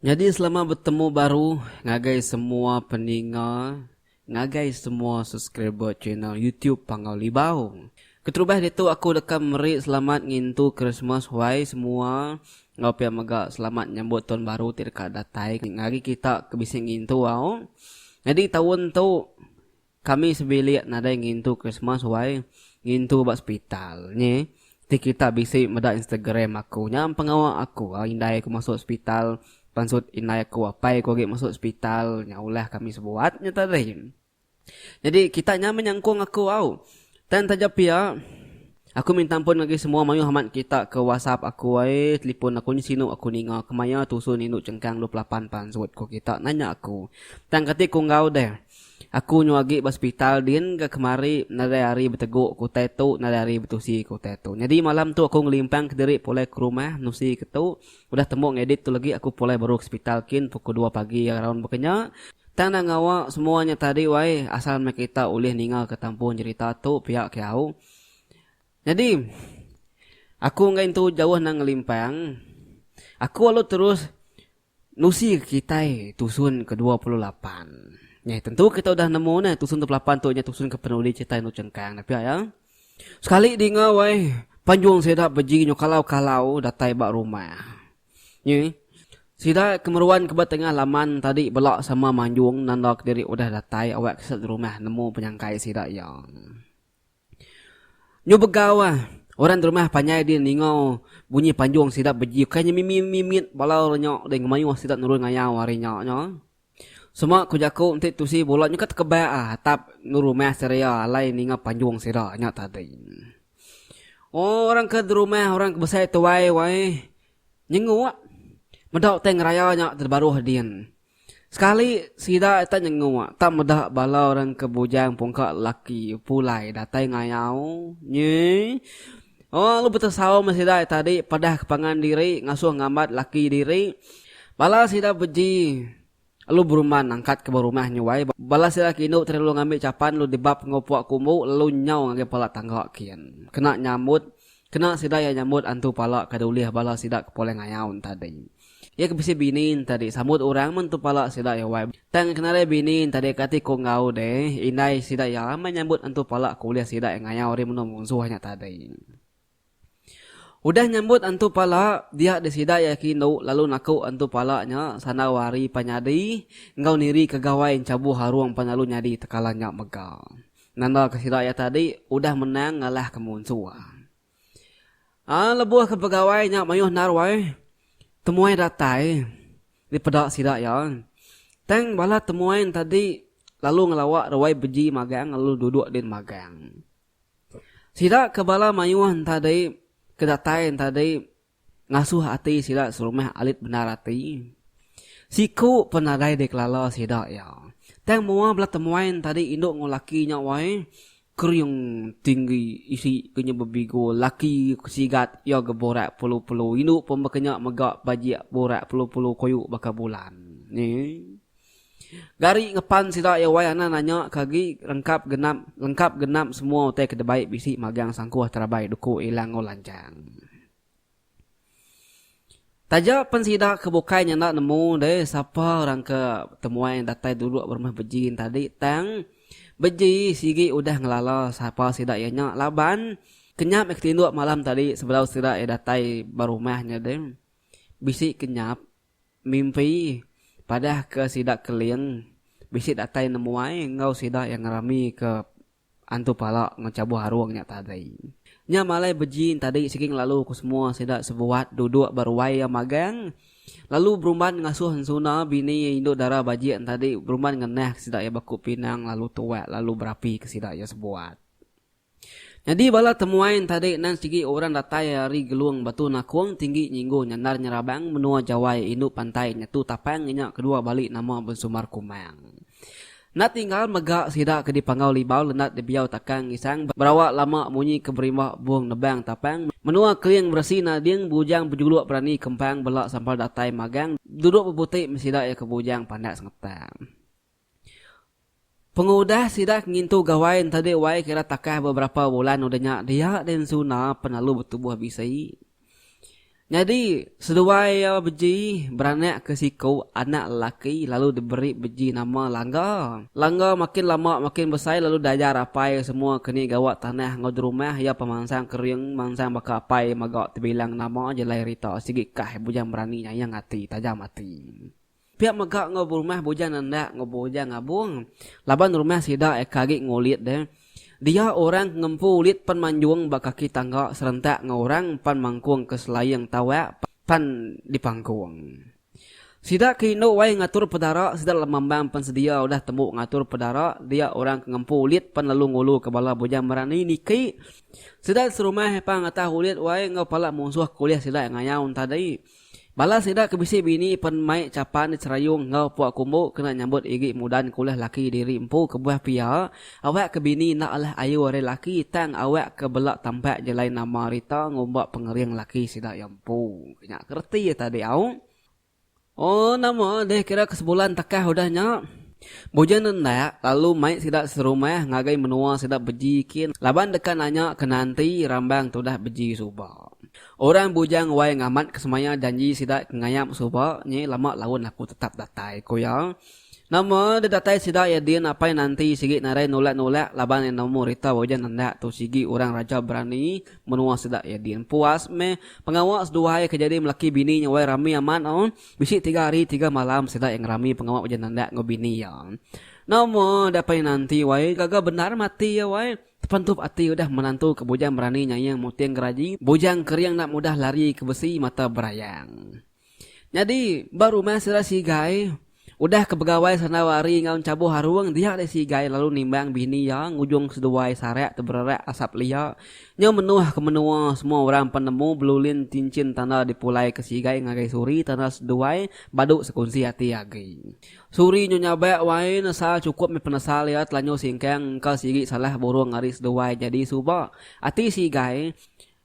Nyadi selamat betemu baru ngagai semua peninga Ngagai semua subscriber channel YouTube Panggau Libau. Keterubah ditu aku deka meri selamat ngintu Krismas wai semua enggau pia mega selamat nyambut taun baru ti deka datai ngari kita ke bisi ngintu au. Nyadi taun tu kami sebilik nadai ngintu Krismas wai ngintu ba sepital nyi Ti kita bisi meda Instagram aku nya pengawa aku ga indai aku masuk hospital pansut indai aku apai aku agi masuk hospital nya ulah kami sebuat nya tadi. Jadi kita nya meh nyangkung aku au. Tang taja pia aku minta ampun ngagai semua mayuh amat kita ke whatsapp aku ai telefon aku nya sinu aku ninga kemaya tusun indu chengkang dua pelapan pansut ku kita nanya aku. Tang kati ku enggau deh. Aku nyau agi ba sepital din ga kemari nadai ari beteguk ke utai tu nadai ari betusi ke utai tu nyadi malam tu aku ngelimpang ke diri pulai ke rumah nusi ke tu udah tembu ngedit tu legi aku pulai baru ke sepital kin pukul dua pagi araun baka nya tang dah ngawa semua nya tadi wai asal meh kita ulih ninga ke tampu nyerita tu pia ke au nyadi aku enggai entu jauh nang ngelimpang aku alu terus. Nusi kitai tusun ke dua puluh lapan. Nyeh tentu kitai udah nemu neh tusun dua puluh lapan tu nyeh tusun ke penuli kitai enu chengkang dah pia iya. Sekali dinga wai panjung sida beji nyau kalau-kalau datai ba rumah. Nyeh sida ke meruan ke ba tengah laman tadi bela sama manjung nanda kediri udah datai awak ke sida di rumah nemu penyangkai sida iya. Nyu begau ah, orang di rumah panjai ding ninga bunyi panjung sida beji ukai nya mimi mimi mit bala orang nya ding ngemayuh sida nurun ngayau ari nya nya. Sema ku jaku enti tusi bola nyuka tekebak ah atap endur rumah seria alai ninga panjung sida nya tadi. Oh orang ke di rumah orang ke besai tuai wai nyenguk meda utai ngeraya nya ti baruh din. Sekali sida tak nyenguk tak meda bala orang ke bujang pungka lelaki pulai datai ngayau nyui oh lu betesau meh sida tadi padah ke pangan diri ngasuh ngambat laki diri bala sida beji lu berumban nangkat ke ba rumah nyuai bala sida kindu tadi lu ngambi chapan lu dibap enggau puak kumbu lu nyau ngagai pala tangga kin kena nyambut Kena sida iya nyambut antu pala kada ulih bala sida ke poleh ngayau entadi. Iya ke bisi bini entadi sambut orang men tu pala sida iya wai. Tang kena ari bini entadi ke ati ku enggau deh, indai sida iya amai nyambut antu pala ke ulih sida iya ngayau ari menua munsuh nya tadi. Udah nyambut antu pala, dia deh sida iya ke indu lalu naku antu pala nya sandau ari pan nyadi enggau niri ke gawai enchabuh arung pan lalu nyadi tekalan nya mega. Nandaka sida iya tadi udah menang ngalahka munsua. Ai lebuh ke pegawai nya mayuh naruai temuai datai dipeda sida iya, tang bala temuai nya tadi lalu ngelawa ruai beji magang lalu duduk din magang. Sida ke bala mayuh nya tadi ke datai nya tadi Ngasuh ati sida serumah alit bendar ati. Siku pun nadai dikelala sida iya. Tang mua bela temuai entadi indu enggau laki nya wai, kering tinggi isi ke nya bebigo laki ke sigat iya ga borak pelu-pelu indu pun baka nya mega bajik borak pelu-pelu koyo baka bulan. Nyi. Gari ngepan sida iya wai anan anya ke agi rengkap genap lengkap genap semua utai ke debai bisi magang sangkuh terabai duku Ilang enggau Lanjang. Taja pen sida ke bukai nya enda nemu deh sapa orang ke temuai datai dulu ba rumah Beji tadi tang Beji sigi udah ngelala sapa sida iya nya laban kenyap iya ke tinduk malam tadi sebedau sida iya datai ba rumah nya deh bisi kenyap Mimpi, padah ke sida Keling, bisi datai nemuai enggau sida iya ngerami ke Antu Pala enggau Chabuh Arung nya tadi. Nya malai beji entadi sigi ngelalu ke semua sida sebuat duduk ba ruai iya magang lalu berumban ngasuh Ensuna bini iya indu dara bajik entadi berumban ngenah ke sida iya baku pinang lalu tuak lalu berapi ke sida iya sebuat. Nyadi bala temuai ntadi nan sigi orang datai ari Gelung Batu Nakong Tinggi Nyinggu Nyandar Nyerabang menua Jawai indu pantai nya tu tapang inya kedua bali nama Bensumar Kumang. Enda tinggal mega sida ke dipanggau Libau Lendat Dibiau Takang Ngisang berawa lama munyi ke berimbah Bung Nebang Tapang menua Keling Beresi Nading Bujang Bejuluk Berani Kempang bela sampal datai magang duduk bebuti meh sida iya ke Bujang Pandak Sengetak. Pengudah sida ke ngintu gawai ntadi wai kira takah beberapa bulan udah nya dia deh ensuna pengalu betubuh bisi. Nyadi seduai iya beji beranak ke siku anak lelaki lalu diberi beji nama Langga. Langga makin lama makin besai lalu diajar apai semua ke ni gawa tanah enggau jerumah iya pan mansang kering mansang baka apai maga tebilang nama jelai rita sigi kah bujang berani nyayang ati tajam ati. Pia mega enggau berumah bujang enda enggau bujang ngabung. Laban rumah sida eka agi ngulit deh. Dia orang ke ngempu ulit pan manjung ba kaki tangga serentak enggau orang pan mangkung ke selaing tawak pan dipangkung. Sida ke indu wai ngatur pedara sida lemambang pan sedia udah tembu ngatur pedara dia orang ke ngempu ulit pan lalu ngulu ke bala bujang merani niki sida serumah pan ngetah ulit wai enggau pala munsuh ke ulih sida ngayau ntadi. Bala sida ke bisi bini pen mai chapan di Serayung enggau Puak Kumbu kena nyambut iri mudan ke ulih laki diri empu kebuah pia. Awak ke bini enda alah ayu ari laki tang awak ke bela tampak jelai nama rita ngumba pengering laki sida iya empu. Ke nya ke reti iya tadi au. Oh nama deh kira ke sebulan takah udah nya. Bujang nendak lalu mai sida serumah ngagai menua sida beji kin laban deka nanya ke nanti rambang tudah beji suba. Orang bujang wai ngamat ke semaya janji sida ke ngayap suba nyi lama laun aku tetap datai, ku iya. Nama deh datai sida iya din apai nanti sigi narai nulak-nulak laban iya nemu rita ujan nendak tu sigi orang raja berani menua sida iya din puas meh pengawa seduai ke jadi melaki bini nya wai rami amat oh bisi tiga hari tiga malam sida iya ngerami pengawa ujan nendak enggau bini iya. Nama deh apai nanti wai gaga bendar mati iya wai. Tepentup ati udah menantu ke bujang berani nyaing muting geraji, bujang kering enda mudah lari ke besi mata berayang. Nyadi, ba rumah sida Sigai, udah ke begawai sandau ari enggau enchabuh arung, dia deh Sigai lalu nimbang bini iya ngujung seduai sarak tebererak asap lia nyau menoh ke menoa semua orang pan nemu belulin cincin tanda dipulai ke Sigai ngagai Suri tanda seduai badu sekunsi ati agi. Suri nyu nyabak wai nesa chukup meh penesa lia telanjur singkang engka sigi salah burung ari seduai nyadi suba ati si igai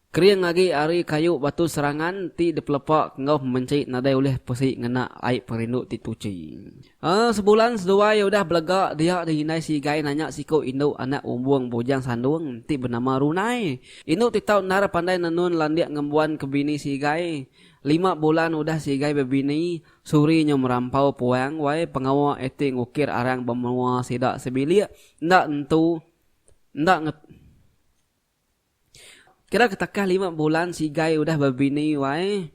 kering agi ari kayu batu serangan ti dipelepa enggau pemenchi nadai ulih pesi ngena ai perindu ti tuchi. Aa sebulan seduai udah belega dia di indai si igai nanya siku indu anak umbung bujang sandung ti benama Runai. Indu ti tau endar pandai nenun landik ngembuan ke bini si igai. Lima bulan udah si igai bebini Suri nyo merampau puang wai pengawa akting ukir arang bemenua sida sebilik enda entu enda nge Kira ketakah lima bulan sigai udah bebini wai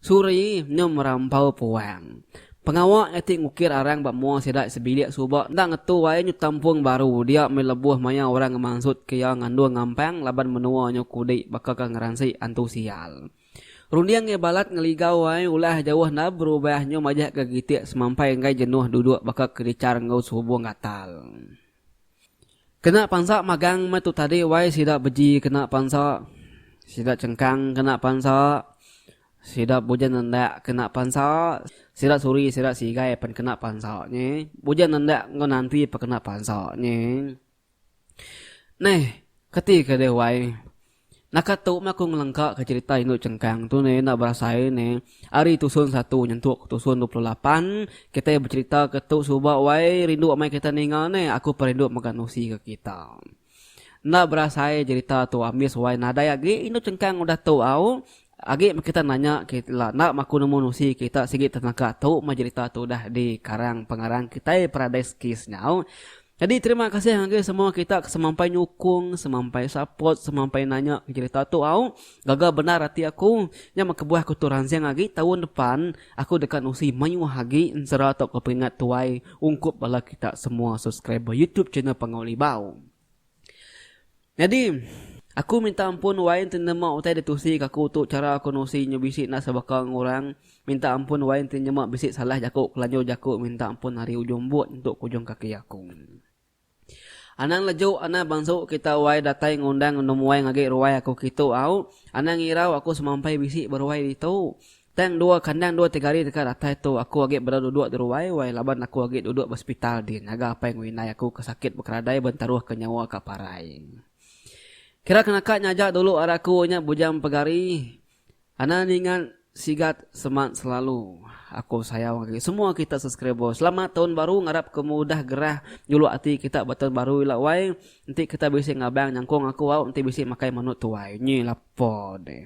Suri nyo merampau puang pengawa akting ukir arang ba mua sida sebilik suba enda ngetu wai nyu tampung baru dia meh lebuh maya orang ngemansutke iya ngandung ngampang laban menua nyo kudi baka ka ngeransik antu sial. Runding iya balat ngeligau ai ulah jauh enda berubah nyu majahka kitik semampai enggai jenuh duduk baka kedichar enggau sehubung gatal. Kena pansa magang meh tu tadi wai sida beji kena pansa, sida chengkang kena pansa, sida bujan nendak kena pansa, sida suri sida sigai pen kena pansa nyi, bujan nendak enggau nanti pekena pansa nyi. Neh, kati ke deh wai. Naka tu meh aku ngelengka ke cerita indu chengkang tu neh enda berasai neh ari tusun satu nyentuk ke tusun dua puluh lapan kitai becerita ke tu suba wai rindu amai kitai ninga neh aku peh rindu mega nusi ke kita. Enda berasai cerita tu ambis wai nadai agi indu chengkang udah tu au Agi meh kita nanya ke ila enda maku nemu nusi kita sigi tenaka tu meh jerita tu udah di karang pengarang kitai Paradise Kiss nyau. Nyadi terima kasih ngagai semua kita ke semampai nyukung, semampai support, semampai nanya ke jerita tu au. Gaga bendar ati aku. Nya meh kebuah aku tu ransing agi taun depan aku deka nusi mayuh agi ensera tauka peringat tuai ungkup bala kita semua subscriber YouTube channel Pangau Libau. Nyadi, aku minta ampun Wain ti nyemak utai ditusi ke aku tu chara aku nusi nyu bisi enda sebaka enggau orang. Minta ampun Wain ti nyemak bisi salah jaku kelanjur jaku minta ampun ari ujung but entu ke ujung kaki aku. Anang leju anang bansu kita Wai datai ngundang enum Wai ngagi ruai aku kitu au. Anang irau aku semampai bisi beruai ditu. Tang dua kandang dua tiga hari deka datai tu aku agi baru duduk di ruai wai laban aku agi duduk ba sepital din ngaga apai enggau indai aku ke sakit bekeradai ba ntaruh ke nyawa ka parai. Kira ke naka nya aja dulu ari aku nya bujang pegari Ana ninga sigat seman selalu Aku sayau ngagai semua kita subscriber Selamat tahun baru ngarap ke mudah gerah juluk ati kita ba tahun baru ila wai enti kita bisi ngabang nyangkung aku au enti bisi makai manut tuai nyi lapo deh.